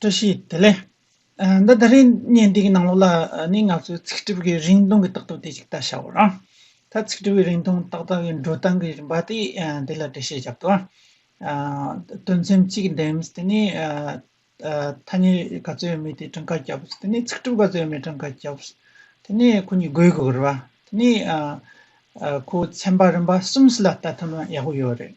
བཀྲ་ཤིས་བདེ་ལེགས། འདི་ད་རིང་བརྙན་འདིའི་ནང་ལོགས་ལ་ནི་ང་ཚོའི་ཚིག་སྒྲིབ་ཀྱི་རིང་ཐུང་གི་རྟགས་ཐུབ་དེ་ཅིག་ལྟ་བྱ་བ་རང། ད་ཚིག་སྒྲིབ་ཀྱི་རིང་ཐུང་ཏག་ཏག་གི་འགྲོ་སྟངས་ཀྱི་རིམ་པ་དེ་དེ་ལ་འགྲེལ་བཤད་བརྒྱབ་ཏོ། དོན་ཚན་གཅིག་འདེམས་དེ་ནི་ཐ་སྙད་ག་ཚོད་ཡོད་མེད་དེ་བྲང་ཁ་བརྒྱབ་དེ་ནི་ཚིག་སྒྲིབ་ག་ཚོད་ཡོད་མེད་བྲང་ཁ་བརྒྱབ། དེ་ནི་ཁོ་གཉིས་དགོས་དགོས་རེད་བ། དེ་ནི་ཁོ་ཚན་པ་རིམ་པ་གསུམ་སུ་ལ་ལྟ་ཐུབ་ན་ཡག་པོ་ཡོད་རེད།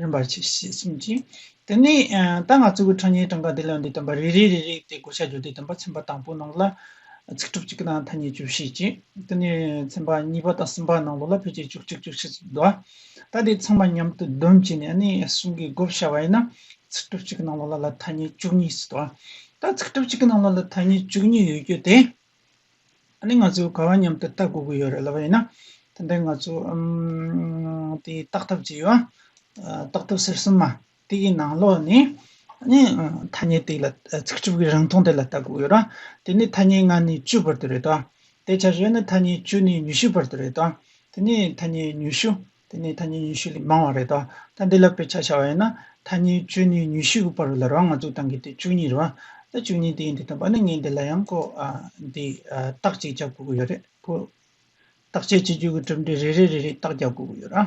རིམ་པར་ཕྱེ་ཞེས་གསུངས་ཅིང། དེ་ནས་རྟ་རྔ་གཙོ་བོའི་ཁྲག་ཉའི་གྲངས་ཀ་དེ་ལ་འདི་བསྟན་པ་རེ་རེ་རེ་རེ་སྟེ་བགོ་བཤའ་བརྗོད་བདེ་བསྟན་པ་ཚན་པ་དང་པོའི་ནང་ལ། ཚིག་གྲུབ་གཅིག་གི་ནང་ཐ་སྙད་བཅུ་བཞི་བཅས་དེ་ནས་ཚན་པ་གཉིས་པ་དང་གསུམ་པ་ནང་ལོགས་ལ་ཕལ་ཆེར་བཅུ་གཅིག་བཅུ་བཞི་ཙམ་བསྡུ་བ། ད་དེ་ཚང་མ་མཉམ་དུ་བསྡོམས་བྱས་ནས་ནི་གསུང་གི་བགོ་བཤའ་བ་ཡིན་ན། ཚིག་གྲུབ་གཅིག་གི་ནང་ལོགས་ལ་ལ་ཐ་སྙད་བཅུ་གཉིས་སུ་བསྡུ་བ། ད་ཚིག་གྲུབ་གཅིག་གི་ནང་ལོགས་ལ་ཐ་སྙད་བཅུ་གཉིས་ཡོད་རྒྱུ་དེ། ནི་ང་ཚོས་ག་བ་མཉམ་དུ་ལྟ་དགོས་ཀྱི་ཡོད་རེད་ལབ་པ་ཡིན་ན་དེ་འདྲའི་ང་ཚོ་དེ་བརྟག་ཐབས་བྱས་ཡོད་བརྟག་ཐབས་ཟེར་སྲིད་མ་དེ་གི་ནང་ལོགས་ནི་ནི་ཐ་སྙད་དེ་ལ་ཚིག་གྲུབ་ཀྱི་རིང་ཐུང་དེ་ལ་ལྟ་དགོས་ཡོད་ར་དེ་ནི་ཐ་སྙད་ལྔ་ནི་བཅུ་བར་དུ་རེད་དོ་དེ་བྱ་བྱེད་ནི་ཐ་སྙད་བཅུ་ནི་ཉི་ཤུ་བར་དུ་རེད་དོ་དེ་ནི་ཐ་སྙད་ཉི་ཤུ་དེ་ནས་ཐ་སྙད་ཉི་ཤུ་ལས་མང་བ་རེད་དོ། ད་འདི་ལ་དཔེ་ཆ་བྱ་བ་ཡིན་ན། ཐ་སྙད་བཅུ་གཉིས་ཉི་ཤུ་དགུ་པ་རུ་ལར་བ་ང་ཚོས་དང་གི་དེ་བཅུ་གཉིས་རུ། ད་བཅུ་གཉིས་དེ་ཡིན་དེ་དང་པ་ནི་ངས་འདི་ལ་ཡང་ཀོ། འདི། རྟགས་གཅིག་བརྒྱབ་དགོས་ཀྱི་ཡོད་རེད་ཀོ། རྟགས་དཔྱད་བྱེད་རྒྱུ་གི་གྲུབ་འབྲས་རེ་རེ་རེ་རེ་རྟགས་བརྒྱབ་དགོས་ཀྱི་ཡོད་ར།